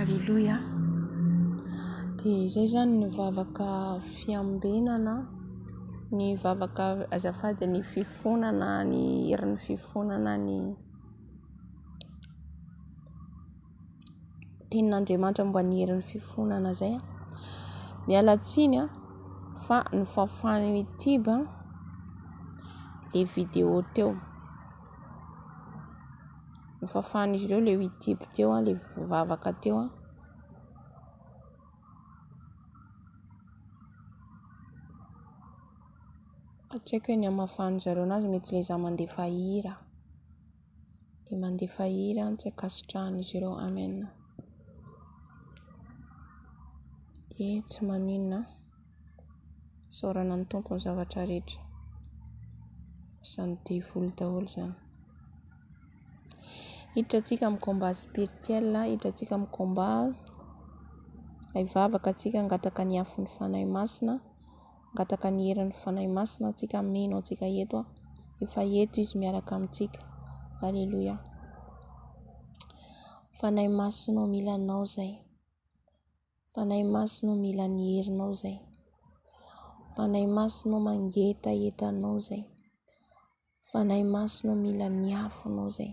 Aleloia. Dia izay zany ny vavaka fiambenana, ny vavaka azafady ny fifonana, ny herin'ny fifonana ny. tenin'Andriamanitra momba ny herin'ny fifonana izay. Miala tsiny fa nofafany mitiba ilay vidéo teo. Nofafan'izy ireo ilay youtube teo, ilay vavaka teo. Tsy haiko ny hamafan'ny zareo anazy, mety ilay izaho mandefa hira. dia mandefa hery aho tsy ankasitrahan'izy ireo Amen dia tsy maninona isaorana ny Tompo ny zavatra rehetra izany devoly daholo izany hiditra antsika amin'ny combat spirituel hiditra antsika amin'ny combat hivavaka antsika hangataka ny afon'ny fanahy masina Mangataka ny herin'ny Fanahy Masina antsika hameno antsika eto aho. Efa eto Izy miaraka amintsika. Aleloia. Fanahy Masina o, mila anao izay. Fanahy Masina o, mila ny herinao izay. Fanahy Masina o, mangetaheta anao izay. Fanahy Masina o, mila ny afonao izay.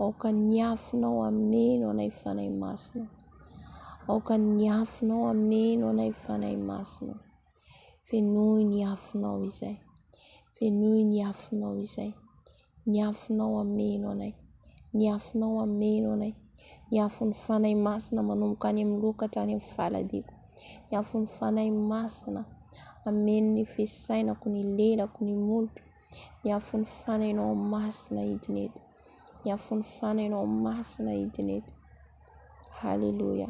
Aoka ny afonao hameno anay Fanahy Masina. Aoka ny afonao hameno anay Fanahy Masina. Fenoy ny afonao izay. Fenoy ny afonao izay. Ny afonao hameno anay. Ny afonao hameno anay. Ny afon'ny Fanahy Masina manomboka any amin'ny loka hatrany amin'ny faladiko. Ny afon'ny Fanahy Masina hameno ny fisainako, ny lelako, ny molotro. Ny afon'ny fanainao masina hidina eto. Ny afon'ny fanainao masina hidina eto. Haleloia.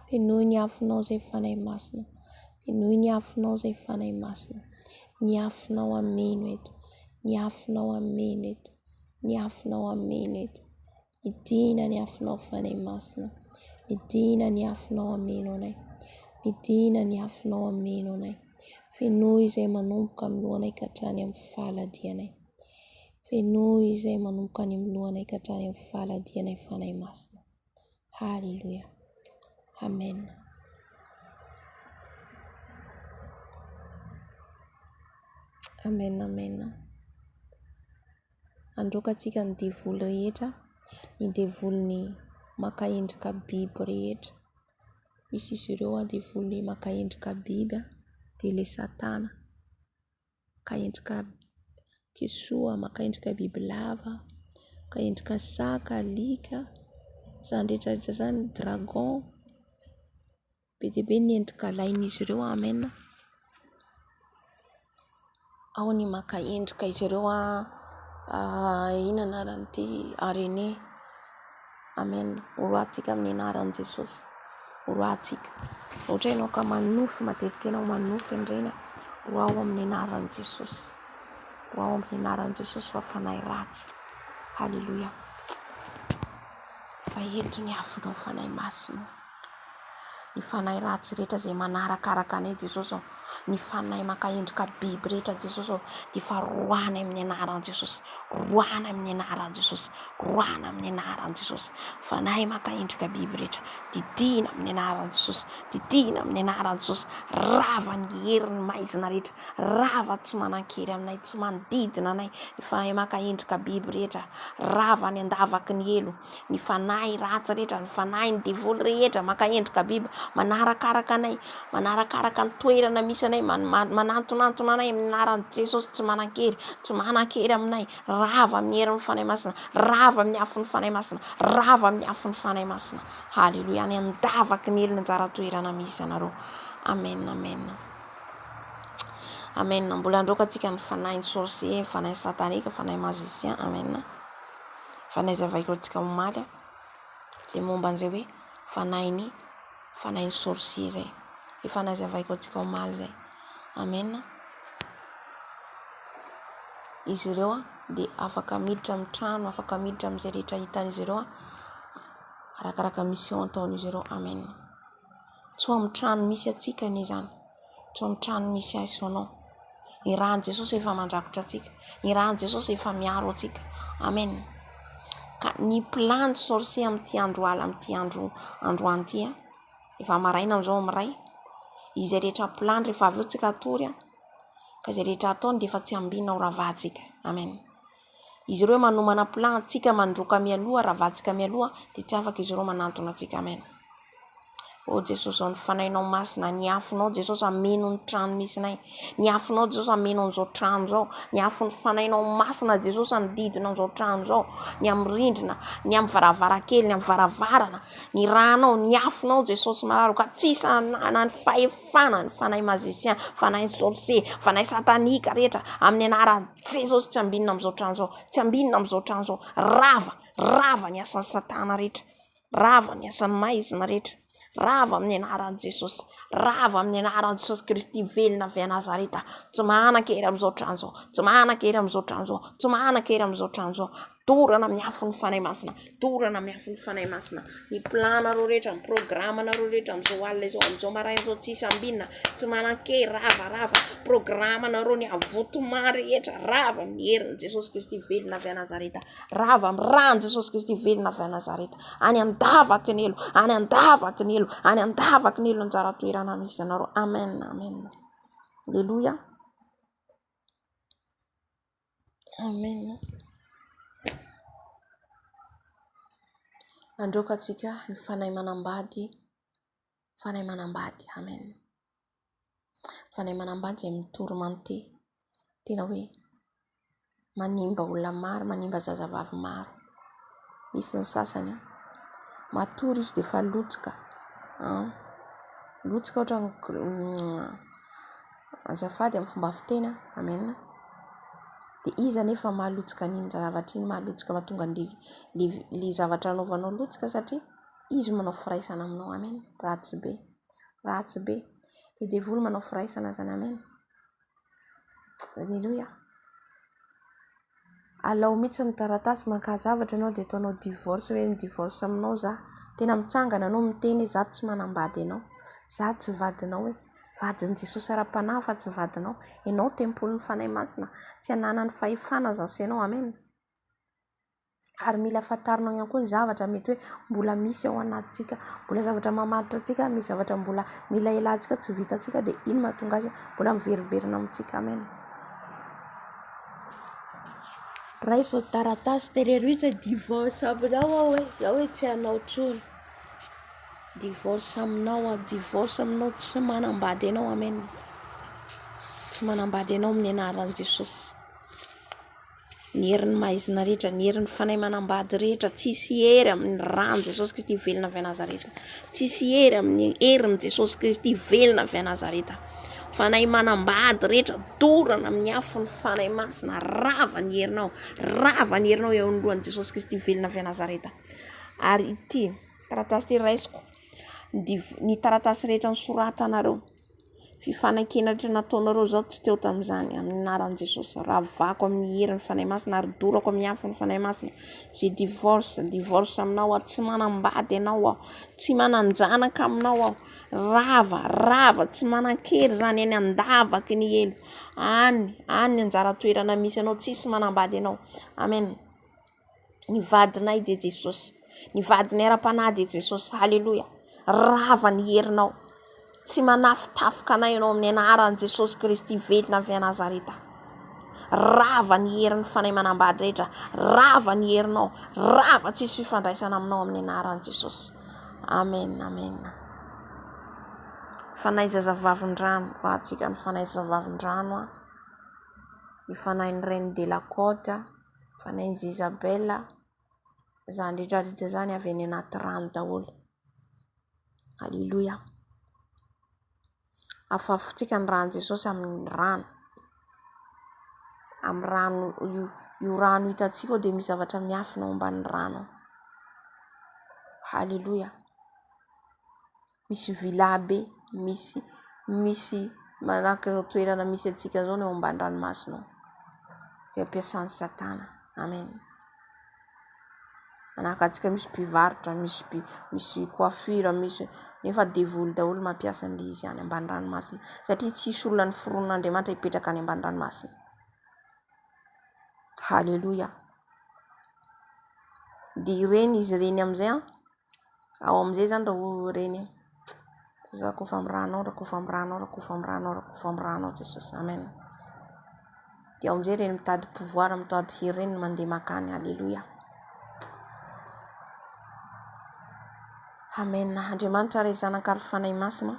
Penoy ny afonao izay fanahy masina. Penoy ny afonao izay fanahy masina. Ny afonao ameno eto. Ny afonao ameno eto. Ny afonao ameno eto. Midina ny afonao Fanahy Masina. Midina ny afonao ameno anay. Midina ny afonao ameno anay. Fenoy izay manomboka amin'ny lohanay ka hatrany amin'ny faladianay. Fenoy izay manomboka any amin'ny lohanay ka hatrany amin'ny faladianay Fanahy Masina. Haleloia. Amen. Amen, amen. Androakantsika ny devoly rehetra, ny devolin'ny maka endrika biby rehetra. Misy izy ireo devoly maka endrika biby dia ilay satana maka endrika kisoa, maka endrika bibilava, maka endrika saka, alika, izany rehetra rehetra izany, dragon. Be dia be ny endrika alain'izy ireo Amen a! Ao ny maka endrika izy ireo inona anarany ity harena e! Amen Ho roahantsika amin'ny anaran'i Jesosy Ho roahantsika Ohatra hoe ianao ka manonofy matetika ianao manonofy an'ireny roaho amin'ny anaran'i Jesosy Roaho amin'ny anaran'i Jesosy fa fanahy ratsy Haleloia Fa eto ny afonao fanahy masina Ny fanahy ratsy rehetra izay manarakaraka anay Jesosy ô, ny fanahy maka endrika biby rehetra Jesosy ô, dia efa roahina amin'ny anaran'i Jesosy, roahina amin'ny anaran'i Jesosy, roahina amin'ny anaran'i Jesosy. Fanahy maka endrika biby rehetra, didina amin'ny anaran'i Jesosy, didina amin'ny anaran'i Jesosy, rava ny herin'ny maizina rehetra, rava tsy manan-kery aminay, tsy manodidina anay, ny fanahy maka endrika biby rehetra, rava any an-davaky ny helo. ny fanahy ratsy rehetra, ny fanahin'ny devoly rehetra maka endrika biby manarakaraka anay, manarakaraka ny toerana misy anay, manantonantona anay amin'ny anaran'i Jesosy tsy manan-kery, tsy manan-kery aminay, rava amin'ny herin'ny fanahy masina, rava amin'ny afon'ny fanahy masina, rava amin'ny afon'ny fanahy masina, haleloia, any an-davaky ny helony anjara toerana misy anareo, amen, amen, amen, mbola handroaka antsika ny fanahin'ny sorcier, ny fanahin'ny satanika, ny fanahin'ny magicien, amen. Fa ny hazavaiko antsika omaly dia momba an'izay hoe fanahin'ny fanahin'ny sorcier izay. Efa nazavaiko antsika omaly izay. Amen. Izy ireo dia afaka miditra amin'ny trano, afaka miditra amin'izay rehetra hitan'izy ireo arakaraka mission ataon'izy ireo. Amen. Tsoamotrano misy antsika anie izany. Tsoamotrano misy ahy sy anao. Ny ran'i Jesosy efa mandrakotra antsika. Ny ran'i Jesosy efa miaro antsika. Amen. Ka ny plan ny sorcier amin'ity andro alina amin'ity andro androany ity, efa maraina amin'izao amin'ny iray, izay rehetra plan rehefa avy eo tsika hatory, ka izay rehetra ataony dia efa tsiambinina ho ravahantsika. Amen. Izy ireo manomana plan antsika mandroaka mialoha ary avadika mialoha dia tsy afaka izy ireo manantona antsika amen ô jesosy ô ny fanahinao masina ny afonao jesosy ameno ny trano misy nay ny afonao jesosy ameno an'izao trano zao ny afo ny fanahinao masina jesosy anodidina an'izao trano zao ny amin'ny rindrina ny amin'ny varavarakely ny amin'ny varavarana ny ranao ny afonao jesosy mararo ka tsy sanana ny fahefana ny fanahy mazisian fanahy sorse fanahy satanika rehetra amin'ny anarany Jesosy tsy ambinina amin'izao trano izao, tsy ambinina amin'izao trano izao, rava, rava ny asan'i satana rehetra, rava ny asan'ny maizina rehetra, rava amin'ny anaran'i Jesosy, rava amin'ny anaran'i Jesosy Kristy velona avy à Nazareta, tsy manan-kery amin'izao trano izao, tsy manan-kery amin'izao trano izao, tsy manan-kery amin'izao trano izao. Dorana amin'ny afon'ny Fanahy Masina, dorana amin'ny afon'ny Fanahy Masina ny planareo rehetra, ny programanareo rehetra amin'izao alina izao, amin'izao maraina izao tsisy ambinina, tsy manan-kery, rava, rava, programanareo ny avotoma rehetra, rava amin'ny herin'i Jesosy Kristy velona avy à Nazareth, rava amin'ny ran'i Jesosy Kristy velona avy à Nazareth, any an-davaky ny elo, any an-davaky ny elo, any an-davaky ny elo anjara toerana misy anareo, amen, amen, aleloia. Amen Mandroaka antsika ny Fanahy manambady, Fanahy manambady Amen Fanahy manambady izay mitory mante tena hoe manimba olona maro, manimba zazavavy maro, misy ny sasany matory izy dia efa lotsika an, lotsika ohatran'ny Azafady amin'ny fomba fiteny a! Amen a! Dia iza anefa maha lotsika an'iny zavatra iny, maha lotsika mahatonga an'ilay le le zavatra anaovanao lotsika satria izy no manao firaisana aminao. Amen! Ratsy be! Ratsy be! Ilay devoly manao firaisana izany. Amen! Aleloia! Alao mitsy ny taratasy mankaha zavatra enao de ataonao divorce hoe mi divorce aminao za tena mitsangana enao miteny hoe za tsy manambady enao za tsy vadinao e vadiny jesosy ara panahy fa tsy vadinao enao tempolin'ny fanahy masina tsy ananany fahefana za sy enao amen ary mila fantarinao ihany koa ny zavatra mety hoe mbola misy ao anatintsika mbola zavatra mamaritra antsika misy zavatra mbola mila elantsika tsy vitantsika de iny mahatonga azy mbola miveriverina amintsika amen Raiso ny taratasy tenerio izay divorce aminao aho e, za hoe tsy hanao intsony, divorce aminao aho, divorce aminao, tsy manambady anao amen, tsy manambady anao amin'ny anaran'i Jesosy, ny herin'ny maizina rehetra, ny herin'ny fanahy manambady rehetra, tsisy hery amin'ny ran'i Jesosy Kristy velona avy à Nazareth, tsisy hery amin'ny herin'i Jesosy Kristy velona avy à Nazareth. Fanahy manambady rehetra, dorana amin'ny afon'ny Fanahy Masina, rava ny herinao, rava ny herinao eo anoloan'i Jesosy Kristy velona avy à Nazareth. Ary ity taratasy ity raisiko, ny taratasy rehetra nosoratanareo, fifanekena rehetra nataonareo zao tsy teo tamin'izany, amin'ny anaran'i Jesosy, ravako amin'ny herin'ny Fanahy Masina ary dorako amin'ny afon'ny Fanahy Masina, je divorce, divorce aminao aho, tsy manambady anao aho, tsy manan-janaka aminao aho. Rava, rava, tsy manan-kery izany eny an-davaky ny helo. Any, any ny anjara toerana misy anao, tsisy manambady anao. Amen. Ny vadinay dia Jesosy. Ny vadinay ara-panahy dia Jesosy. Aleloia. Rava ny herinao. Tsy manafitafika anay ianao amin'ny anaran'i Jesosy Kristy velona avy à Nazareta. Rava ny herin'ny Fanahy Manambady rehetra. Rava ny herinao. Rava tsy hisy fifandraisana aminao amin'ny anaran'i Jesosy. Amen, amen. Fanahy zazavavindrano. Ho antsika ny Fanahy zazavavindrano. Ny Fanahin'ny Reine de la Côte. Fanahin'i Jezabel. Izany rehetrarehetra izany avy any anaty rano daholo. Alléluia. Afafotsika ny ran'i Jesosy amin'ny rano. Amin'ny rano, io rano hitantsika io dia misy zavatra miafina ao ambanin'ny rano ao. Haleloia. Misy vy lahibe, misy, misy manahaka izao toerana misy antsika izao ny ao ambanin'ny ranomasina ao. Izay ampiasan'i Satana. Amen. Manakatsika misy mpivarotra, misy mpi misy coiffure, misy nefa devoly daholo mampiasa an'le izy any ambany ranomasina satria tsy hisy olona noforonin'Andriamanitra hipetraka any ambany ranomasina. Haleloia. Dia ireny izy ireny amin'izay an. Ao amin'izay izany raha reny eo. Jesoa rakofy amin'ny ranao, rakofy amin'ny ranao, rakofy amin'ny ranao, rakofy amin'ny ranao Jesosy. Amen. Dia ao amin'izay ireny mitady pouvoir, mitady hery ireny no mandeha makany. Aleloia. Amen. Andriamanitra Ray Zanaka ary Fanahy Masina.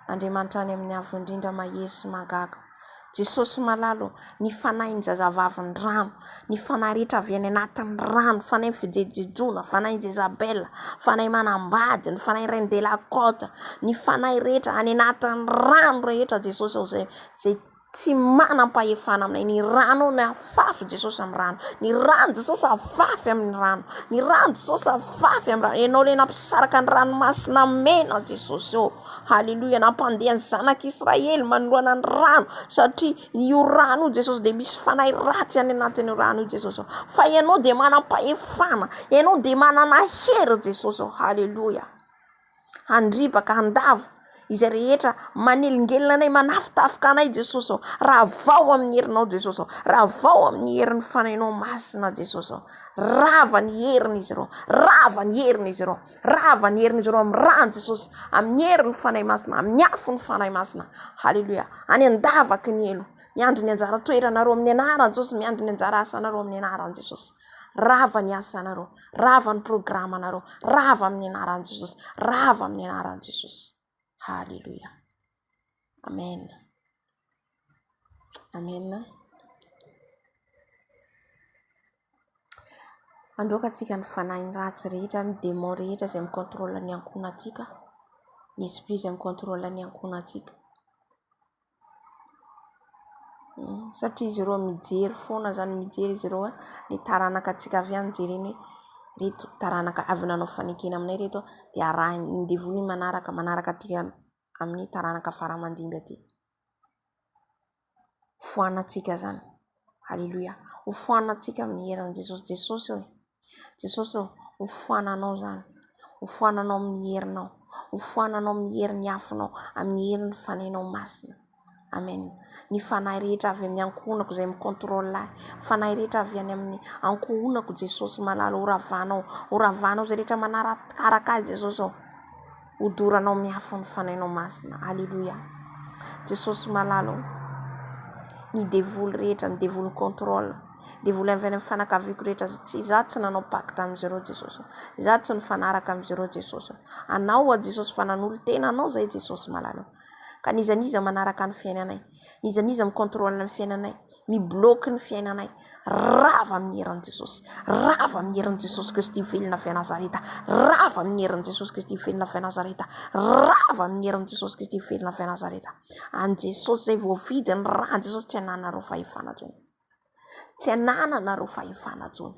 Andriamanitra any amin'ny Avo Indrindra mahery sy mahagaga. Jesosy malala ô! Ny fanahin'ny zazavavin'ny rano, ny fanahy rehetra avy any anatin'ny rano, fanahin'ny fijejojejoana, fanahin'i Jezabela, fanahy manambady, ny fanahin'ny Reine de la Cote, ny fanahy rehetra any anatin'ny rano rehetra Jesosy ô! Izay tsy manam-pahefana aminay, ny rano ô! Fafy Jesosy amin'ny rano. Ny rano Jesosy afafy amin'ny rano. Ny rano Jesosy afafy amin'ny rano. Ianao ilay nampisaraka ny ranomasina mena Jesosy ô. Haleloia. Nampandeha ny zanak'i Israely manoloana ny rano satria io rano io Jesosy dia misy fanahy ratsy any anatin'io rano io Jesosy ô. Fa Ianao dia manam-pahefana. Ianao dia manana hery Jesosy ô. Haleloia. handribaka handavo izay rehetra manelingelina anay manafitafika anay Jesosy ô ravao amin'ny herinao Jesosy ô ravao amin'ny herin'ny fanainao masina Jesosy ô rava ny herin'izy ireo rava ny herin'izy ireo rava ny herin'izy ireo amin'ny ràny Jesosy amin'ny herin'ny fanahy masina amin'ny afon'ny fanahy masina haleloia any an-davaky ny helo miandry ny anjara toeranareo amin'ny anaran'i Jesosy miandry ny anjara asanareo amin'ny anaran'i Jesosy rava ny asanareo Rava ny programanareo. Rava amin'ny anaran'i Jesosy. Rava amin'ny anaran'i Jesosy. Haleloia. Amen. Amen. Androaka antsika ny fanahin'ny ratsy rehetra, ny démon rehetra izay mi-contrôle ny ankohonantsika, ny esprit izay mi-contrôle ny ankohonantsika. satria izy ireo mijery foana izany mijery izy ireo ny taranaka antsika avy any jereny hoe ireto taranaka avy nanao fanekena aminay ireto dia arahiny ny devoly ny manaraka manaraka aty amin'ny taranaka faramandimby aty foanantsika izany Aleloia hofoanantsika amin'ny heran'i Jesosy Jesosy ô Jesosy ô hofoananao izany hofoananao amin'ny herinao hofoananao amin'ny herin'ny afonao amin'ny herin'ny fanainao masina amen ny fanahy rehetra avy amin'ny ankohonako izay mi contrôle ahy fanahy rehetra avy any amin'ny ankohonako Jesosy malala horavanao horavanao izay rehetra manarakaraka ahy Jesosy ô Hodoranao miafy ny fanainao masina. Aleloia. Jesosy malala ô. Ny devoly rehetra, ny devoly contrôle, devoly avy any amin'ny fanakaviako rehetra, tsy za tsy nanao pacte amin'izy ireo Jesosy. Za tsy nifanaraka amin'izy ireo Jesosy. Anao aho Jesosy fa nanolo-tena anao zahay Jesosy malala ô. Ka n'iza n'iza manaraka ny fiainanay. N'iza n'iza mi-contrôle ny fiainanay, mi-bloque ny fiainanay, rava amin'ny herin'i Jesosy, rava amin'ny herin'i Jesosy Kristy velona avy à Nazareta, rava amin'ny herin'i Jesosy Kristy velona avy à Nazareta, rava amin'ny herin'i Jesosy Kristy velona avy à Nazareta. An'i Jesosy izay voavidy ny ran'i Jesosy, tsy anananareo fahefana intsony, tsy anananareo fahefana intsony.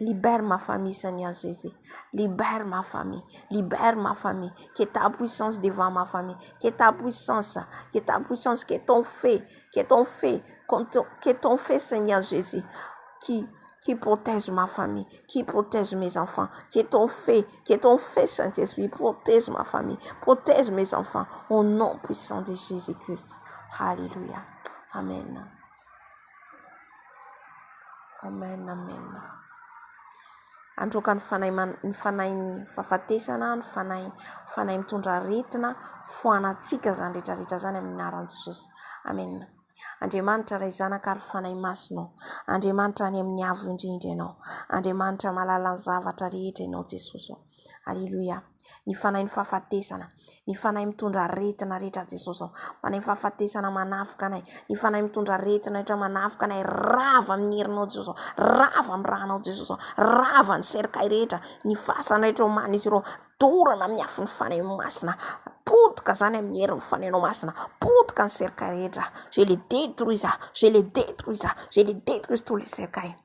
Libère ma famille zany azo zay zay, libère ma famille, libère ma famille, que ta puissance devant ma famille, que ta puissance, que ta puissance, que ton feu, que ton feu, que ton feu seigneur jesus qui qui protège ma famille, qui protège mes enfants, que ton feu, que ton feu saint esprit protège ma famille, protège mes enfants au nom puissant de jesus christ, haleloia, amen. Amen Amen Androaka ny fanahy ny fanahin'ny fahafatesana ny fanahy fanahy mitondra aretina foanatsika izany rehetra rehetra izany amin'ny anaran'i Jesosy Amen Andriamanitra Ray Zanaka ary fanahy masina ô Andriamanitra any amin'ny avo indrindra ianao Andriamanitra malala ny zavatra rehetra ianao Jesosy ô Aleloia! Ny Fanahin'ny fahafatesana, ny Fanahy mitondra aretina rehetra Jesosy ô! Fanahin'ny fahafatesana manafika anay, ny Fanahy mitondra aretina rehetra manafika anay, rava amin'ny herinao Jesosy ô! Rava amin'ny ra anao Jesosy ô! Rava ny cercueil rehetra, ny fasana rehetra ô manintsy ireo, dorana amin'ny afon'ny Fanahy Masina, potika zany amin'ny herin'ny Fanahinao Masina, potika ny cercueil rehetra, je les detruis, je les detruis, je les detruis tous les cercueils.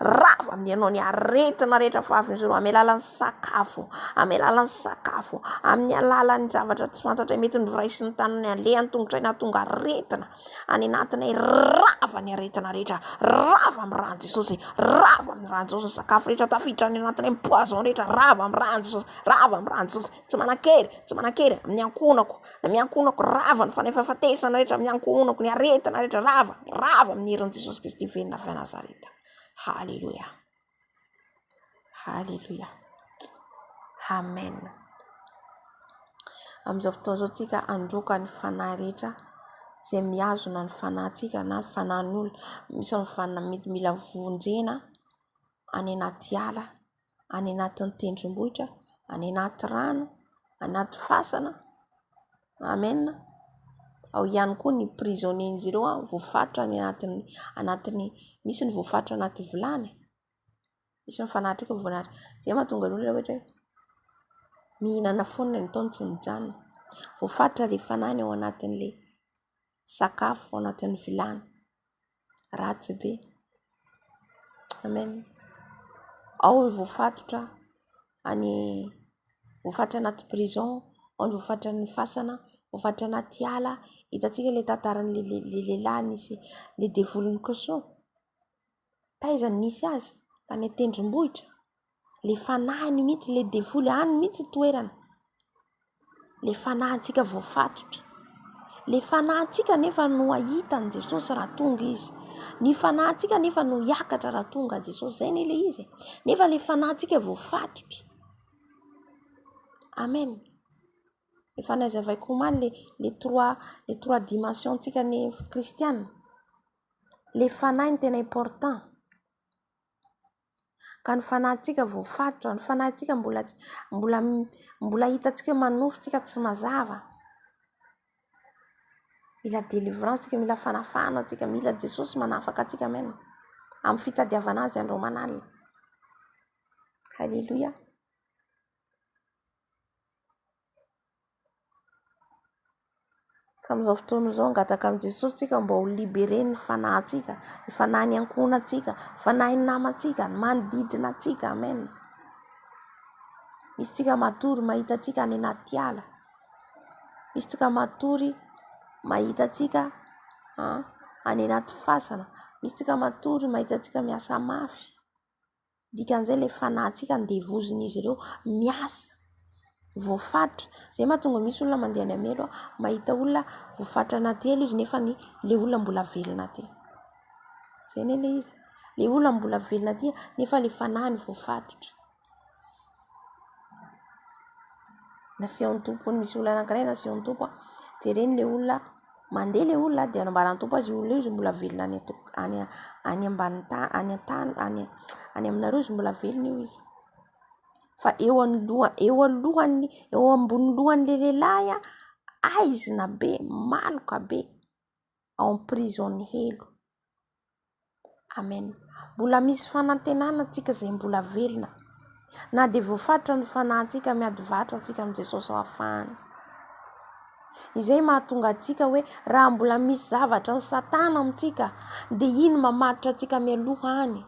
Rava amin'ny anao ny aretina rehetra fahavin'izy ireo amin'ny alalan'ny sakafo, amin'ny alalan'ny sakafo, amin'ny alalan'ny zavatra tsy fantatray mety noraisin'ny tanany aleha an-tongotray nahatonga aretina any anatinay. Rava ny aretina rehetra, rava amin'ny ran'i Jesosy, rava amin'ny ran'i Jesosy ny sakafo rehetra tafiditra any anatinay, ny poison rehetra rava amin'ny ran'i Jesosy, rava amin'ny ran'i Jesosy, tsy manan-kery, tsy manan-kery amin'ny ankohonako, amin'ny ankohonako, rava ny fanefafatesana rehetra amin'ny ankohonako, ny aretina rehetra rava, rava amin'ny herin'i Jesosy Kristy velona avy any Nazareta. Haleloia. Haleloia. Amen. Amin'izao fotoana izao tsika androka ny fanahy rehetra izay mihazona ny fanahintsika na ny fanahin'ny olona. Misy ny fanahy mety mila vonjena any anaty ala. any anatin'ny tendrombohitra, any anaty rano, anaty fasana. Amen. Ao ihany koa ny prisonniers-n'izy ireo voafaritra any anatin'ny, anatin'ny, misy ny voafaritra anaty vilany, misy ny fanatrika voafaritra. Izay no mahatonga ny olona ohatra hoe mihinana foana ny ataony tsy mijanona. Voafaritra ilay fanahy ny ao anatin'ilay. sakafo ao anatin'ny vilany ratsy be amen ao ny voafatotra any voafatra anaty prison ao ny voafatra ny fasana voafatra anaty ala hitantsika ilay tantaran'le lehilahy nisy le devoly nikosoa Taiza no nisy azy? Tany an-tendrombohitra. Ilay fanahiny mihitsy, ilay devoly. Any mihitsy ny toerana. Ilay fanahintsika voafatotra. Ilay fanahintsika anefa no hahita an'i Jesosy raha tonga izy. Ny fanahintsika anefa no hiakatra raha tonga Jesosy. Izay anie ilay izy e. Nefa ilay fanahintsika voafatotra. Amen. Efa nazavaiko omaly ilay trois, ilay trois dimensions-ntsika ny kristiana. le fanahy no tena important ka ny fanahintsika voafatotra, ny fanahintsika mbola mbola mbola hitantsika hoe manofy tsika tsy mazava mila délivrance tsika mila fanafahana tsika mila Jesosy manafaka antsika amen amin'ny fitadiavana azy andro aman'alina haleloia Ka amin'izao fotoana izao hangataka amin'i Jesosy tsika mba ho libéré ny fanahintsika, ny fanahin'ny ankohonantsika, ny fanahin'ny namantsika, ny manodidina antsika. Amen. Misy tsika matory mahita antsika any anaty ala. Misy tsika matory mahita antsika any anaty fasana. Misy tsika matory mahita antsika miasa mafy. Dikan'izay ilay fanahintsika andevozin'izy ireo miasa, voafaritra. Izay no mahatonga misy olona mandeha any hamelo mahita olona voafaritra anaty elo izy nefa ilay olona mbola velona aty. Izay anie ilay izy, ilay olona mbola velona aty nefa ilay fanahiny voafaritra. nasehon'ny tompo ny misy olona anankiray nasehon'ny tompo a dia reny ilay olona mandeha ilay olona dia nambaran'ny tompo azy io olona io izay mbola velona any an-toko any any ambanin'ny tany any an-tany any any aminareo izy mbola velona io izy fa eo anoloha eo alohan'ny eo ambonin'ny lohan'ilay lehilahy a aizina be maloka be ao am prison helo amen mbola misy fanantenana tsika zay mbola velona na de voafaritra ny fanahintsika miady varotra tsika am jesosy hafahany izay mahatonga atsika hoe raha mbola misy zavatra ny satana amitsika de iny mamaritra atsika mialoha any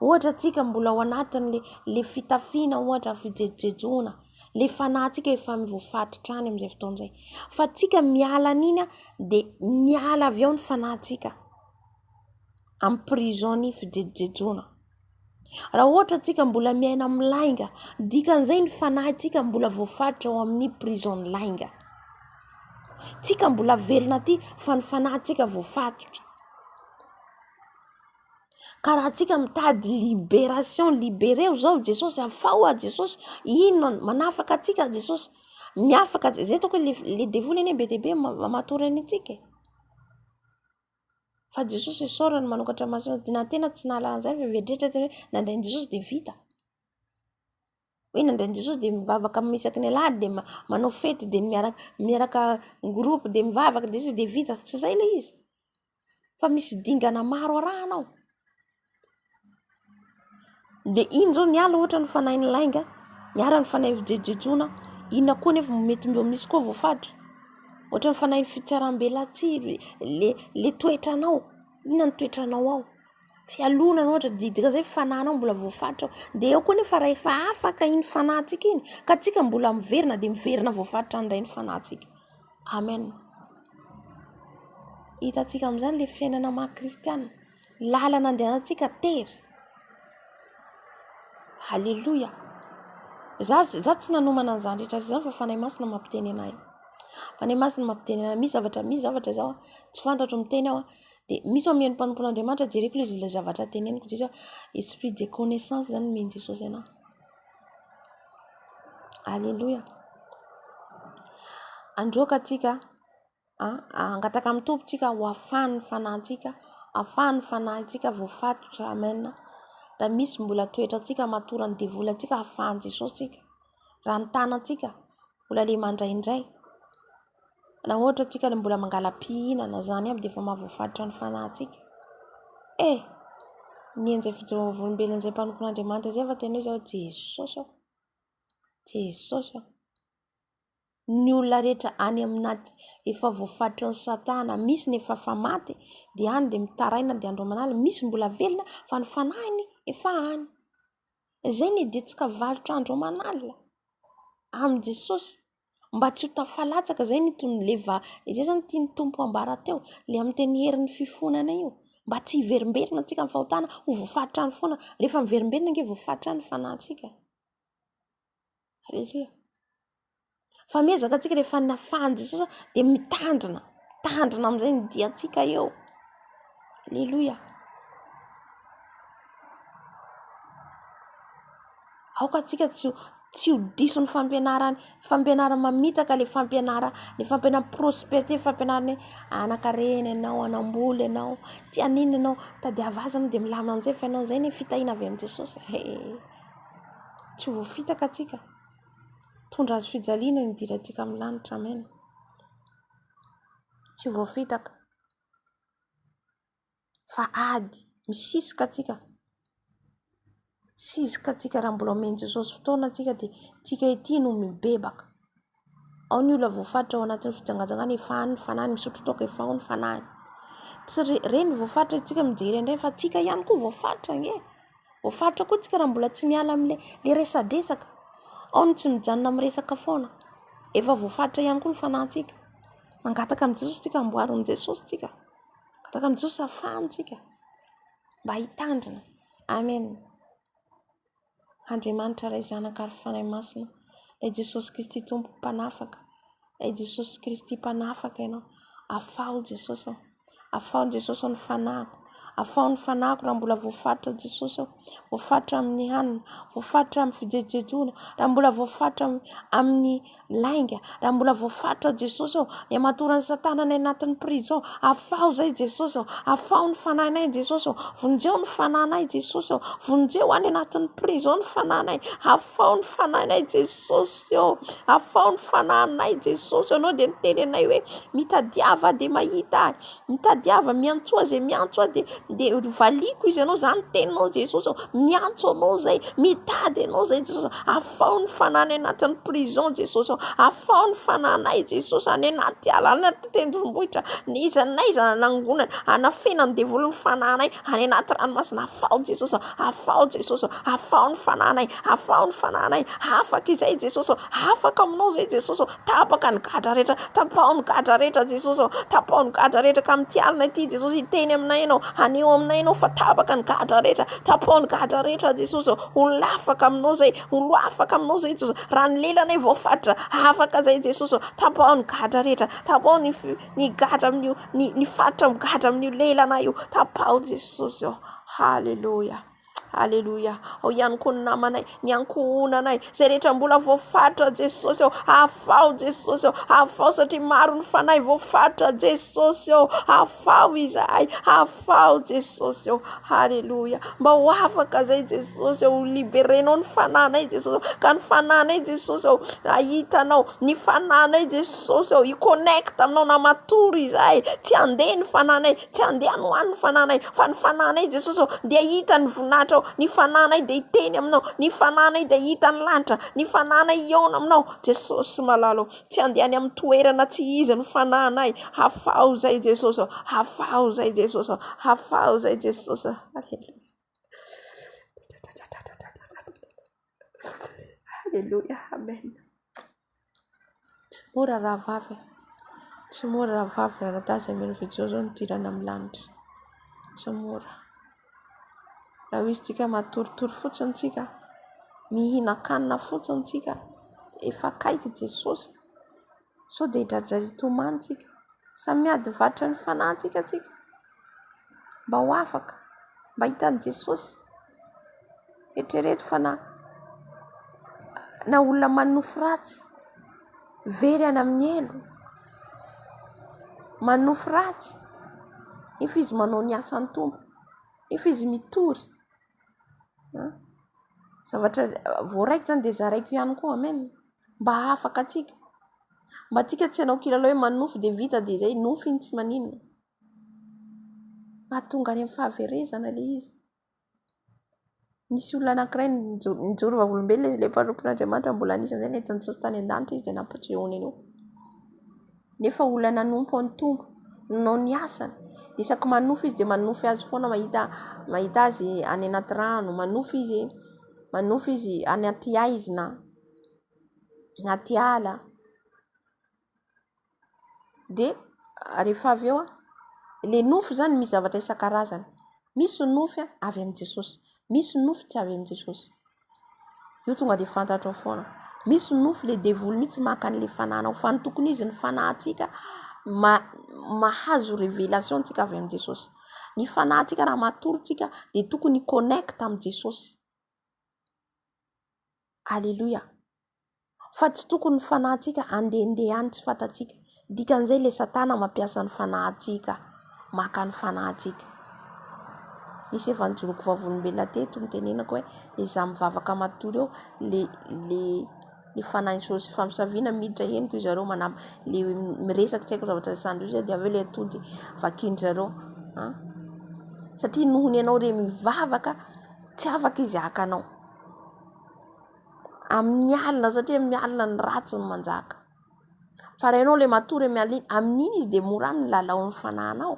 Ohatra antsika mbola ao anatin'le le fitafiana ohatra ny fijejojejoana, le fanahintsika efa voafatotra any amin'izay fotoana izay. Fa tsika miala an'iny an, dia miala avy ao ny fanahintsika amin'ny prison ny fijejojejoana. Raha ohatra antsika mbola miaina amin'ny lainga, dikan'izay ny fanahintsika mbola voafatotra ao amin'ny prison ny lainga. Tsika mbola velona aty fa ny fanahintsika voafatotra. Ka raha antsika mitady liberation, libereo zao Jesosy, afaho aho Jesosy, inona no, manafaka antsika Jesosy, miafaka Jesosy, zay ataoko hoe le devoly anie be dia be matory an' antsika e! fa Jesosy isaorana manokatra maso antsika, na ny tena tsy nahalala an'izany fa mieritreritra tena hoe nandray an'i Jesosy dia vita. hoe nandeha Jesosy dia mivavaka amin'ny isaky ny alahady dia manao fety dia miaraka miaraka groupe dia mivavaka dia sisa dia vita tsy izay ilay izy fa misy dingana maro arahana ao dia iny izao ny ala ohatra ny fanahin'ny lainga ny ala ny fanahy fijejojejoana inona koa anefa no mety mba misy koa voafaritra ohatra ny fanahy fitsarambelatsihy ilay ilay toetranao inona ny toetranao ao Fialonana ohatra dia dikan'izay ny fanahinao mbola voafaritra ao. Dia eo koa anefa rahefa afaka iny fanahintsika iny ka antsika mbola miverina dia miverina voafaritra indray ny fanahintsika. Amen. Hitantsika amin'izany ilay fiainana maha kristiana. Lalana andehanantsika tery. Aleloia. Za za tsy nanomana an'izany rehetra rehetra izany fa Fanahy Masina mampiteny anay. Fanahy Masina mampiteny anay. Misy zavatra misy zavatra izao tsy fantatro miteny aho. Dia misy omeny mpanompo an'Andriamanitra jereko le ilay zavatra teneniko dia izy hoe esprit de connaissance zany omen'i Jesosy anah. Aleloia. Androaka atsika an, hangataka amin'ny Tompo tsika ho afahan'ny fanahintsika, afahan'ny fanahintsika voafatotra amen. Raha misy mbola toetrantsika matoran'ny devoly antsika afahan'i Jesosy tsika raha ny tanantsika mbola le mandray indray na ohatra tsika le mbola mangala-pihinana zany aby dia efa mahavoafaritra ny fanahintsika e! ny an'izay fijoroam-bolombelon'izay mpanompon'Andriamanitra izay efa tena hoe zao Jesosy aho, Jesosy aho, ny olona rehetra any amina efa voafaritry ny satana, misy ny efa efa maty dia any dia mitaraina dia andro aman'alina, misy mbola velona fa ny fanahiny efa any. Izay ny hiditsika varotra andro aman'alina amin'i Jesosy mba tsy ho tafalatsaka. Izay izany no tian'ny Tompo hambara teo, ilay amin'ny teny herin'ny fifonana io. Mba tsy hiverimberina antsika amin'ny fahotana, ho voafaritra any foana. Rehefa miverimberina ange voafaritra any ny fanahintsika. Aleloia. Fa amy ezaka antsika rehefa ny nafahan'i Jesosy dia mitandrina, mitandrina amin'izay ny diantsika eo. Aleloia. Aoka antsika tsy ho tsy ho diso ny fampianarany, fampianarana mamitaka ilay fampianarana, ilay fampianarana prosperités, ilay fampianarana hoe hanankarena ianao, hanam-bola ianao, tsy hanino ianao, mitady hahazo azy ianao dia milamina amin'izay ny fiainanao. Izay anie fitahiana avy amin'i Jesosy e. Tsy ho voafitaka atsika. Hitondra hazo fijaliana io nidirantsika amin'ny lanitra. Amen. Tsy ho voafitaka. Fa ady misisika atsika. Misisika atsika raha mbola omen'i Jesosy fotoana atsika dia tsika ity no mibebaka. Ao ny olona voafaritra ao anatin'ny fijangajangana efa any ny fanahiny, misotro toaka efa ao ny fanahiny. Tsy ireny no voafaritra isika mijery an'ireny fa tsika ihany koa voafaritra ange e! Voafaritra koa tsika raha mbola tsy miala amin'ilay le resadresaka. Ao ny tsy mijanona miresaka foana. Efa voafaritra ihany koa ny fanahintsika. Mangataka amin'i Jesosy tsika, amboary amin'i Jesosy tsika. Mangataka amin'i Jesosy hafahany tsika mba hitandrina. Amen. Andriamanitra Ray Zanaka ary Fanahy Masina Ilay Jesosy Kristy Tompo Mpanafaka Ilay Jesosy Kristy Mpanafaka Ianao Afaho Jesosy ô Afaho Jesosy ô ny fanahiko Afaho ny fanahiko raha mbola voafaritra Jesosy ô Voafaritra amin'ny hanina Voafaritra amin'ny fijejojejoana Raha mbola voafaritra amin'ny Lainga, raha mbola voafaritra Jesosy ô, ny hamatoran'i Satana any anatin'ny prison, afaho izay Jesosy ô, afaho ny fanahinay Jesosy ô, vonjeo ny fanahinay Jesosy ô, vonjeo any anatin'ny prison ny fanahinay, afaho ny fanahinay Jesosy ô, afaho ny fanahinay Jesosy ô, ianao dia niteny anay hoe mitadiava aho dia mahita ahy. Mitadiava miantsoa aho izay miantso ahy dia dia valiako izy ianao izany ny teninao Jesosy ô miantso anao izay mitady anao izay Jesosy ô afaho ny fanahy any anatin'ny prison Jesosy ô afaho ny fananay Jesosy any anaty ala any anaty tendrombohitra n'iza n'iza nanangonana hanafena ny devoly ny fanahinay any anaty ranomasina afaho Jesosy ô afaho Jesosy ô afaho ny fanahinay afaho ny fanahinay afaka izay Jesosy ô afaka aminao izay Jesosy ô Tapaka ny gadra rehetra, tapaho ny gadra rehetra Jesosy ô, tapaho ny gadra rehetra ka amin'ity alina ity Jesosy hiteny aminay Ianao, haneho aminay Ianao fa tapaka ny gadra rehetra, tapaho ny gadra rehetra Jesosy ô, ho afaka Aminao izay, ho afaka Aminao izay Jesosy, raha ny lelany e voafatitra, afaka izay Jesosy ô, tapaho ny gadra rehetra, tapaho ny ny gadra amin'io, ny ny faritra migadra amin'io lelanay io, tapaho Jesosy ô, haleloia. Aleloia! Ao ihany koa ny namanay, ny ankohonanay, izay rehetra mbola voafaritra Jesosy ô. Afaho Jesosy ô, afaho satria maro ny fanahy voafaritra Jesosy ô. Afaho izahay, afaho Jesosy ô. Aleloia! Mba ho afaka izay Jesosy ô, ho liberenao ny fanahinay Jesosy ô, ka ny fanahinay Jesosy ô, hahita anao, ny fanahinay Jesosy ô, hi-connecte aminao na matory izahay, tsy handeha ny fanahinay, Tsy andehany ho any ny fananay, fa ny fananay Jesosy ô, dia hita ny voninahitra ao, ny fananay dia hiteny aminao, ny fananay dia hita ny lanitra, ny fananay hihaona aminao Jesosy malala ô, tsy andehany amin'ny toerana tsy izy ny fananay, hafaho zay Jesosy ô, hafaho zay Jesosy ô, hafaho zay Jesosy ô, Aleloia, Aleloia, Amen. Tsy mora rahavavy e! Tsy mora rahavavy mianadahy izay mino f'I Jesoa no hidirana amin'ny lanitra. Tsy mora. Raha ho izy tsika matoritory fotsiny tsika, mihinan-kanina fotsiny tsika, efa akaiky Jesosy, sao dia hidradrary hitomany tsika. Samy miady vatrany fanahy tsika tsika. mba ho afaka, mba hahita an'i Jesosy. Eritrereto fa na na olona manonofy ratsy, very any amin'ny helo, manonofy ratsy, nefa izy manao ny asan'ny Tompo, nefa izy mitory. An! Zavatra vao raiko izany dia zaraiko ihany koa. Amen! Mba hahafaka antsika. Mba antsika tsy hanao kilalao hoe manonofy dia vita dia izay. Nofy iny tsy maninona. Mahatonga any amin'ny fahaverezana ilay izy. Nisy olona anankiray nijoro vavolombelona izy ilay mpanompon'Andriamanitra mbola anisan'izay nety nijery tany an-danitra izy dia nampiditra eo an'iny eo. Nefa olona nanompo an'ny Tompo, nanao ny asany. Isaky manofy izy dia manofy azy foana mahita mahita azy any anaty rano. Manofy izy manofy izy any anaty haizina, anaty ala. Dia rehefa avy eo, ilay nofy izany misy zavatra isan-karazany. Misy ny nofy avy amin'i Jesosy, misy ny nofy tsy avy amin'i Jesosy. Io tonga dia fantatrao foana. Misy ny nofy ilay devoly mihitsy maka an'ilay fanahinao, fa ny tokony izy ny fanahintsika mahazo révélation antsika avy amin'i Jesosy. Ny fanahintsika raha matory isika dia tokony hi-connecte amin'i Jesosy. Aleloia. Fa tsy tokony ny fanahintsika handehandeha any tsy fantatsika. Dikan'izay ilay satana mampiasa ny fanahintsika maka ny fanahintsika. Nisy efa nijoroako vavolombelona teto nitenenako hoe ilay izaho mivavaka matory eo ilay fanahin'i Sôsy efa misaviana miditra henoko ry zareo manambaka ilay miresaka tsy haiko zavatra resahindry zareo dia avy eo ilay atody vakindry zareo an! Satria noho ny ianao re mivavaka tsy afaka izy haka anao. Amin'ny alina satria amin'ny alina ny ratsy no manjaka. Fa raha ianao ilay matory amin'ny alina iny, amin'iny izy dia mora aminy ny lalao ny fanahinao.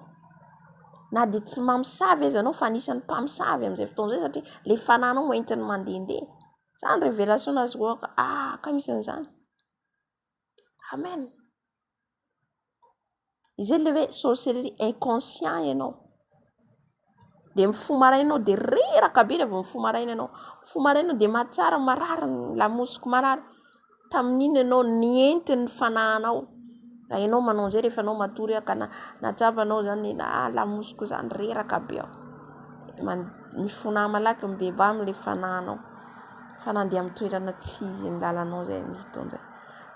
Na dia tsy mamosavy aza ianao fa anisan'ny mpamosavy amin'izay fotoana izay satria ilay fanahinao no entiny mandehandeha. Izany révélation no azoko antoka, ah! Ka misy an'izany. Amen. Izay ilay hoe sorcellerie inconscient ianao. Dia mifoha maraina ianao dia reraka be rehefa mifoha maraina ianao. Mifoha maraina ianao dia mahatsara marary ny lamosiko marary. Tamin'iny ianao nihenty ny fanahinao. Raha ianao manao an'izay rehefa ianao matory ka nahatsapa anao izany hoe ah lamosiko izany reraka be aho. Mifona malaky mibebà amin'ilay fanahinao. Fa na handeha amin'ny toerana tsy izy ny lalanao izay no hitondra.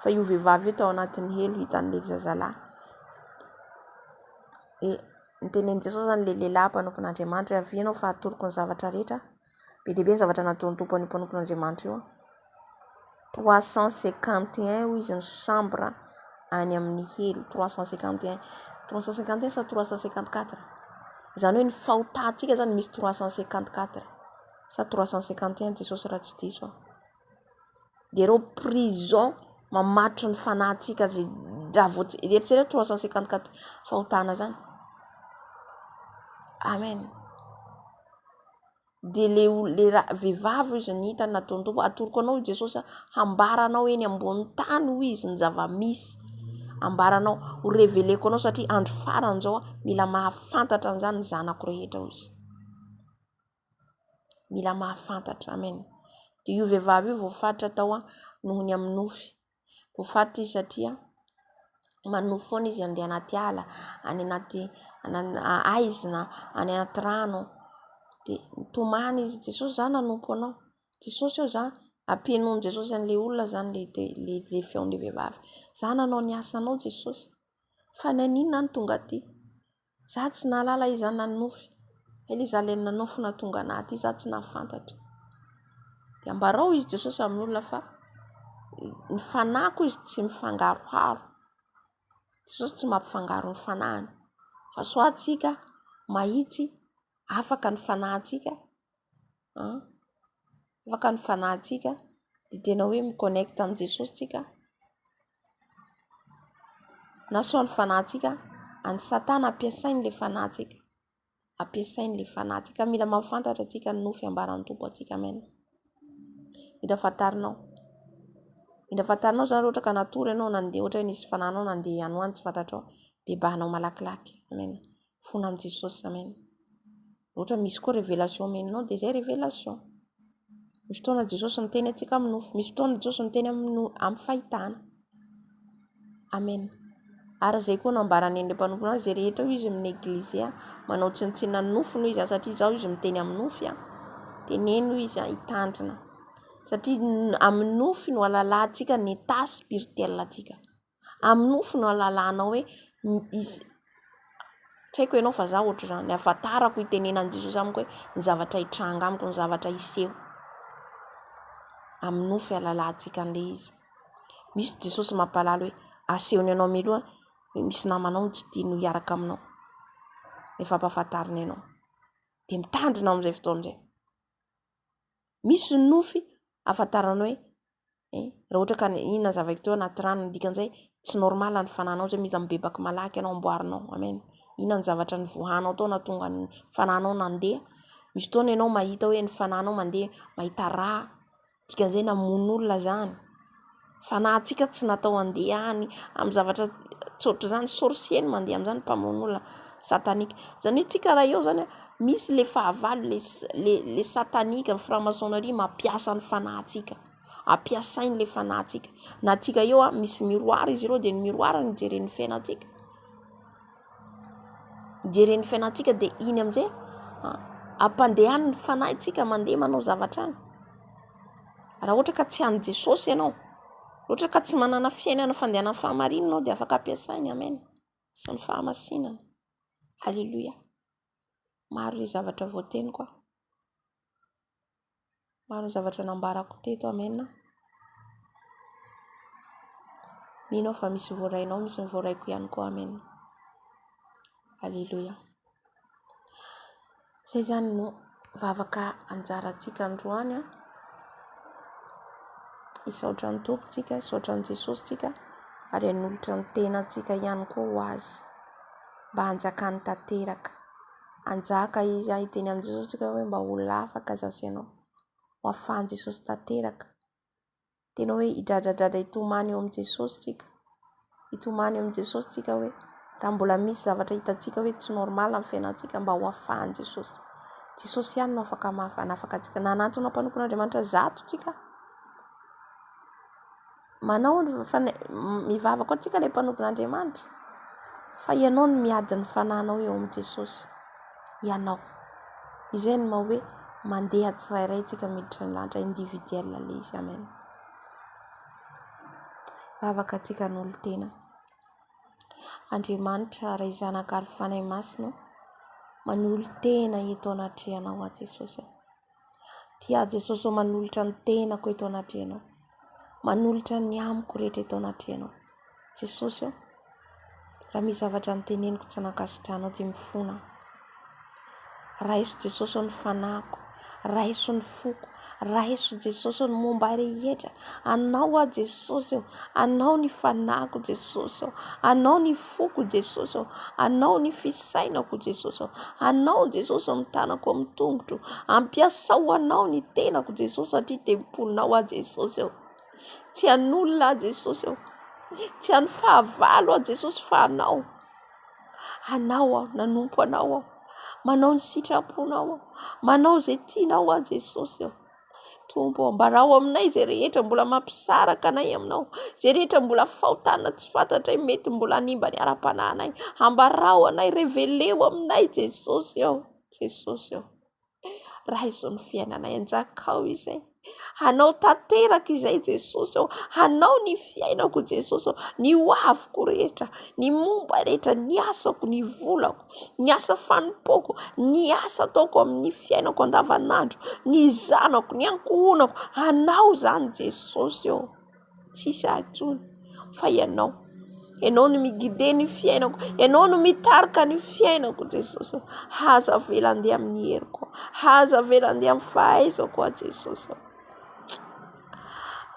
Fa io vehivavy io tao anatin'ny helo hita an'ilay zazalahy. Dia notenenin'i Jesosy izany ilay lehilahy mpanompon'Andriamanitra hoe avia ianao fa hatoroko ny zavatra rehetra. Be dia be ny zavatra nataon'ny Tompo an'io mpanompon'Andriamanitra io. Trois cent cinquante et un hoy izy ny chambre any amin'ny helo. Trois cent cinquante et un. Trois cent cinquante et un sa trois cent cinquante quatre? Izany hoe ny fahotantsika izany misy trois cent cinquante quatre. sa trois cent cinquante et un Jesosy raha tsy diso aho dia ireo prison mamatotry ny fanahintsika izay raha vao eritrereto trois cent cinquante quatre fahotana zany amen dia le le vehivavy izy ny hitany nataony tompo atoroko anao i Jesosy hambara anao eny ambony tany hoy izy ny zava-misy ambara anao ho reveleko anao satria andro farany izao mila mahafantatra an'izany ny zanako rehetra hoy izy Mila mahafantatra. Amen. Dia io vehivavy io voafaritra tao noho ny amin'ny nofy. Voafaritra izy satria manofy foana izy handeha anaty ala, any anaty aizina, any anaty rano. Dia nitomany izy, Jesosy izaho nanompo anao. Jesosy eo izaho, ampienoin'i Jesosy an'ilay olona izany ilay feon'ilay vehivavy. Izaho nanao ny asanao Jesosy, fa ny an'inona aho no tonga aty? Izaho tsy nahalala iza nanofy. Ela izaho ilay nanofy na tonga anah aty izaho tsy nahafantatra. Dia ambarao hoy izy Jesosy amin'ny olona fa ny fanahiko hoy izy tsy mifangaroharo. Jesosy tsy mampifangaro ny fanahiny fa sao antsika mahitsy afaka ny fanahintsika. an! afaka ny fanahintsika dia tena hoe mi connecte amin'i Jesosy tsika na sao ny fanahintsika any satana ampiasainy ilay fanahintsika ampiasainy ilay fanahintsika mila mahafantatra tsika ny nofy ambaran'ny Tompo antsika amen mila fantarinao mila fantarinao izany raha ohatra ka natory ianao nandeha ohatra hoe nisy fanahinao nandeha ihany ho any tsy fantatrao bebahanao malakilaky amen fona amin'i Jesosy amen Raha ohatra misy koa révélation omenao dia izay révélation. Misy fotoana Jesosy miteny antsika amin'ny nofo, misy fotoana Jesosy miteny amin'ny fahitana. Amen. Ary izay koa no ambaran'ny endriny mpanompony azy, izay rehetra hoy izy amin'ny eglizy, manao tsinontsinona ny nofony hoy izy aho satria izaho izy miteny amin'ny nofy aho. Teneno hoy izy aho hitandrina. Satria amin'ny nofy no alalahantsika ny état spirituel antsika. Amin'ny nofo no ahalalana hoe izy tsy haiko ianao fa izaho ohatr'izany, ny ahafantarako itenenan'i Jesosy amiko hoe ny zavatra hitranga amiko, ny zavatra hiseho. Amin'ny nofo ialalahantsika an'ilay izy. Misy Jesosy mampahalala hoe asehony anao mialoha hoe misy namanao tsy tianao hiaraka aminao, efa ampahafantariny anao. Dia mitandrina amin'izay fotoana izay. Misy ny nofy ahafantarana hoe eh raha ohatra ka nihinana zava-kitoa ao anaty rano ny dikan'izay tsy normal ny fananao izay mila mibebaka malaky ianao amboarinao amen inona ny zavatra ny voahanao tao nahatonga ny fananao nandeha misy fotoana ianao mahita hoe ny fananao mandeha mahita rà dikan'izay namono olona zany Fa na antsika tsy natao handeha any amin'ny zavatra tsy ohatr'izany, sorcier no mandeha amin'izany, mpamono olona satanique. Izany hoe antsika raha eo izany misy ilay fahavalo, ilay ilay ilay satanique ny franc-maçonnerie mampiasa ny fanahintsika, ampiasainy ilay fanahintsika. Na antsika eo misy miroir izy ireo dia ny miroir no ijeren'ny fiainantsika. Jereo ny fiainantsika dia iny amin'izay ampandehaniny ny fanahintsika mandeha manao zavatra any. Raha ohatra ka tsy an'i Jesosy ianao, raha ohatra ka tsy manana fiainana fandehanan'ny fahamarinana ianao dia afaka ampiasainy. Amen sy ny fahamasinana. Aleloia. Maro ilay zavatra voateniko. Maro ny zavatra nambarako teto amen a. Mino aho fa misy ny voarainao misy ny voaraiko ihany koa amen. Aleloia. Zay izany no vavaka anjarantsika androany a. Hisaotra ny Tompo tsika, hisaotra an'i Jesosy tsika ary hanolotra ny tenantsika ihany koa ho azy mba hanjakany tanteraka. Hanjaka izy any hiteny amin'i Jesosy isika hoe mba ho lafaka izaho sy ianao. Ho afahan'i Jesosy tanteraka. Tena hoe hidradradradra hitomany eo amin'i Jesosy isika. Hitomany eo amin'i Jesosy isika hoe raha mbola misy zavatra hitantsika hoe tsy normal amin'ny fiainantsika mba ho afahan'i Jesosy. Jesosy ihany no afaka hanafaka antsika. Nanantona mpanompon'Andriamanitra zato isika. Manao ny fana- mivavaka ho antsika ilay mpanompon'Andriamanitra fa ianao no miady ny fananao eo amin'i Jesosy, ianao. Izay no maha hoe mandeha tsirairay antsika miditra ny lanitra individuel ilay izy. Amen. Vavaka antsika an'olon-tena. Andriamanitra Ray Zanaka ary Fanahy Masina, manolo-tena eto anatrehanao aho Jesosy. Dia Jesosy ô manolotra ny tenako eto anatrehanao. Manolotra ny amiko rehetra eto anatrehanao. Jesosy ô, raha misy zavatra noteneniko tsy nankasitranao dia mifona aho. Raiso Jesosy ô ny fanahiko, raiso ny foko, raiso Jesosy ô ny momba ahy rehetra. Anao aho Jesosy ô, Anao ny fanahiko Jesosy ô, Anao ny foko Jesosy ô, Anao ny fisainako Jesosy ô, Anao Jesosy ô ny tanako amin'ny tongotro, ampiasao Anao ny tenako Jesosy satria tempolinao aho Jesosy ô, tsy an'olona aho Jesosy ô, tsy an'ny fahavalo aho Jesosy fa Anao, Anao aho, nanompo Anao aho, manao ny sitraponao aho, manao izay tianao aho Jesosy ô. Tompo ô, ambarao aminay izay rehetra mbola mampisaraka anay aminao, izay rehetra mbola fahotana tsy fantatray mety mbola hanimba ny ara-panahinay, ambarao anay, reveleo aminay Jesosy ô, Jesosy ô, raiso ny fiainanay, anjakao izay, hanao tanteraka izay Jesosy ô, hanao ny fiainako Jesosy ô, ny hoaviko rehetra, ny momba rehetra, ny asako, ny volako. ny asa fanompoako, ny asa ataoko amin'ny fiainako andavanandro, ny zanako, ny ankohonako. Anao izany Jesosy ô ! Tsy hisy ahy intsony fa Ianao. Ianao no mi-guider ny fiainako, Ianao no mitarika ny fiainako Jesosy ô ! Aza avela handeha amin'ny heriko aho, aza avela handeha amin'ny fahaizako aho Jesosy ô !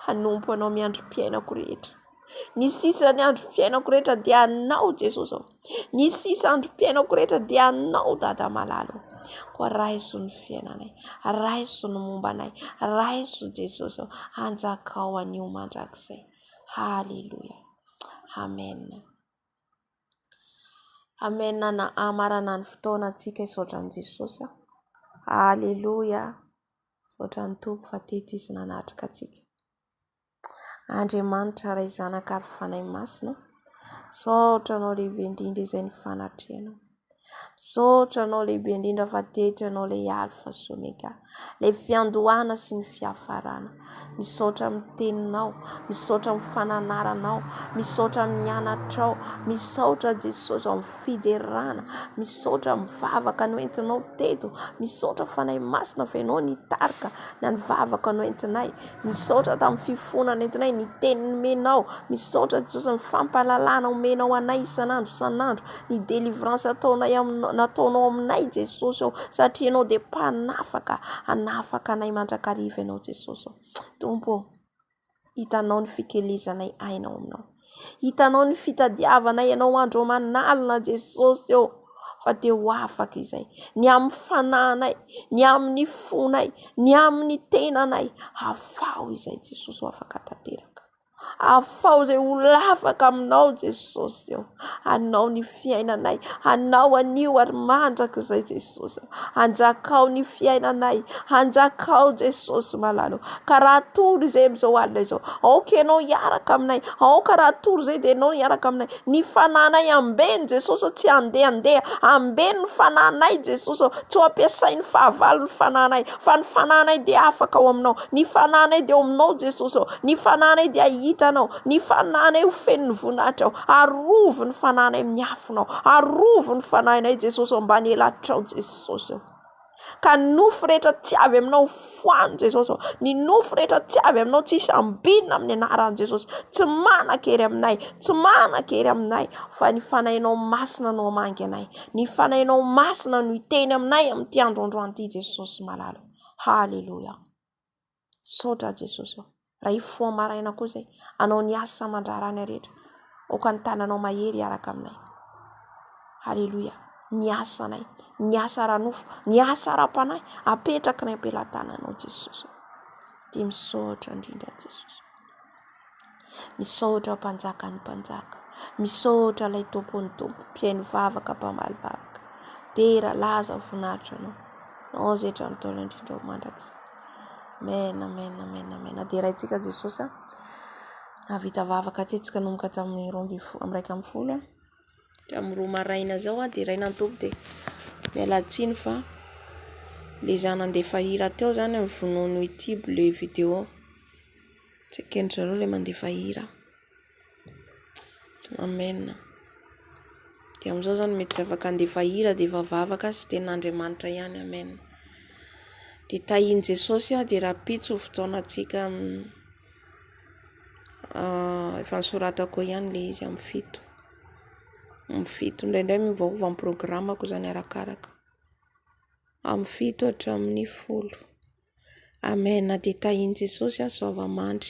Hanompo Anao miandry-piainako rehetra. Ny sisa ny androm-piainako rehetra dia anao Jesosy ô. Ny sisa androm-piainako rehetra dia anao Dada malala ô. Koa raiso ny fiainanay, raiso ny momba anay, raiso Jesosy ô. Hanjakao anio mandrakizay. Haleloia. Amen. Amen na hamarana ny fotoana antsika hisaotra an'i Jesosy. Haleloia. Misaotra ny Tompo fa teto izy nanatrika antsika. Andriamanitra Ray Zanaka ary Fanahy Masina ô! Misaotra Anao lehibe indrindra izay ny fanatrehanao. Misaotra Anao lehibe indrindra fa teto Ianao ilay Alfa sy Omega, ilay fiandohana sy ny fiafarana. Misaotra amin'ny Teninao, misaotra amin'ny fananaranao, misaotra amin'ny anatrao, misaotra Jesosy amin'ny fiderana, misaotra amin'ny vavaka noentinao teto, misaotra Fanahy Masina fa Ianao nitarika na ny vavaka noentinay. Misaotra tamin'ny fifoana nentinay, ny teny nomenao. Misaotra Jesosy amin'ny fampahalalana omenao anay isan'andro isan'andro, ny délivrance ataonay aminao, nataonao aminay Jesosy ô. Satria Ianao dia mpanafaka, hanafaka anay mandrakariva Ianao Jesosy ô. Tompo ô, hitanao ny fikelezanay aina ao aminao. Hitanao ny fitadiavana ianao andro aman'alina Jesosy ô ! Fa dia ho afaka izay. Ny amin'ny fananay, ny amin'ny fonay, ny amin'ny tenanay. Afaho izay Jesosy ho afaka tanteraka. Afaho izay ho afaka aminao Jesosy ô ! Anao ny. fiainanay hanao an'io ary mandrakizay Jesosy oh hanjakao ny fiainanay hanjakao Jesosy malalo ka raha tory izay amin'izao alina izao aoka ianao hiaraka aminay aoka raha tory izay dia ianao hiaraka aminay ny fananay ambeny Jesosy tsy handeha handeha ambeny ny fananay Jesosy oh tsy ho ampiasain'ny fahavalo ny fananay fa ny fananay dia afaka ao aminao ny fananay dia ao aminao Jesosy oh ny fananay dia hitanao Ny fanahinay ho feno voninahitra aho. Arovy ny fanahinay amin'ny afonao. Arovy ny fanahinay Jesosy ao ambany elatrao Jesosy ô. Ka ny nofo rehetra tsy avy aminao foano Jesosy ô. Ny nofo rehetra tsy avy aminao tsy hisy ambinina amin'ny anaran'i Jesosy. Tsy manan-kery aminay, tsy manan-kery aminay fa ny fanahinao masina no hamangy anay. Ny fanahinao masina no hiteny aminay amin'ity andro androany ity Jesosy malala ô. Haleloia. Misaotra Jesosy ô. Raha hifoha maraina koa izay. Anao ny asa aman-draharahana rehetra. Aoka ny tananao mahery hiaraka aminay. Haleloia. Ny asanay, ny asa ara-nofo, ny asa ara-panahy apetrakinay am-pelatananao Jesosy. Dia misaotra indrindra Jesosy. Misaotra mpanjakan'ny mpanjaka, misaotra ilay tompon'ny tompo, mpihaino vavaka, mpamaly vavaka, dera, laza, voninahitra anao, anao izay hatramin'ny ntaolo indrindra ho mandrakizay. Amen, amen, amen, amen. Deraintsika Jesosy a. Nahavita vavaka tetsy ka nanomboka tamin'ny roa ambin'ny folo, amin'ny iraika ambin'ny folo a. Hatramin'ny roa maraina izao aho deraina ny toby dia miala tsiny fa le za nandefa hira teo zany no vonoiny ho ity le video. Tsy eken'ny zareo le mandefa hira. Amen. Dia amin'izao zany mety tsy afaka handefa hira dia efa vavaka sy tenin'Andriamanitra ihany. Amen. Dia tahian'i Jesosy aho dia rahampitso ny fotoanantsika. efa nosoratako ihany le izy amin'ny fito, amin'ny fito, indraindray miovaova ny programako zany arakaraka, amin'ny fito hatramin'ny folo, amen dia tahian'i Jesosy aho zao vao mandry.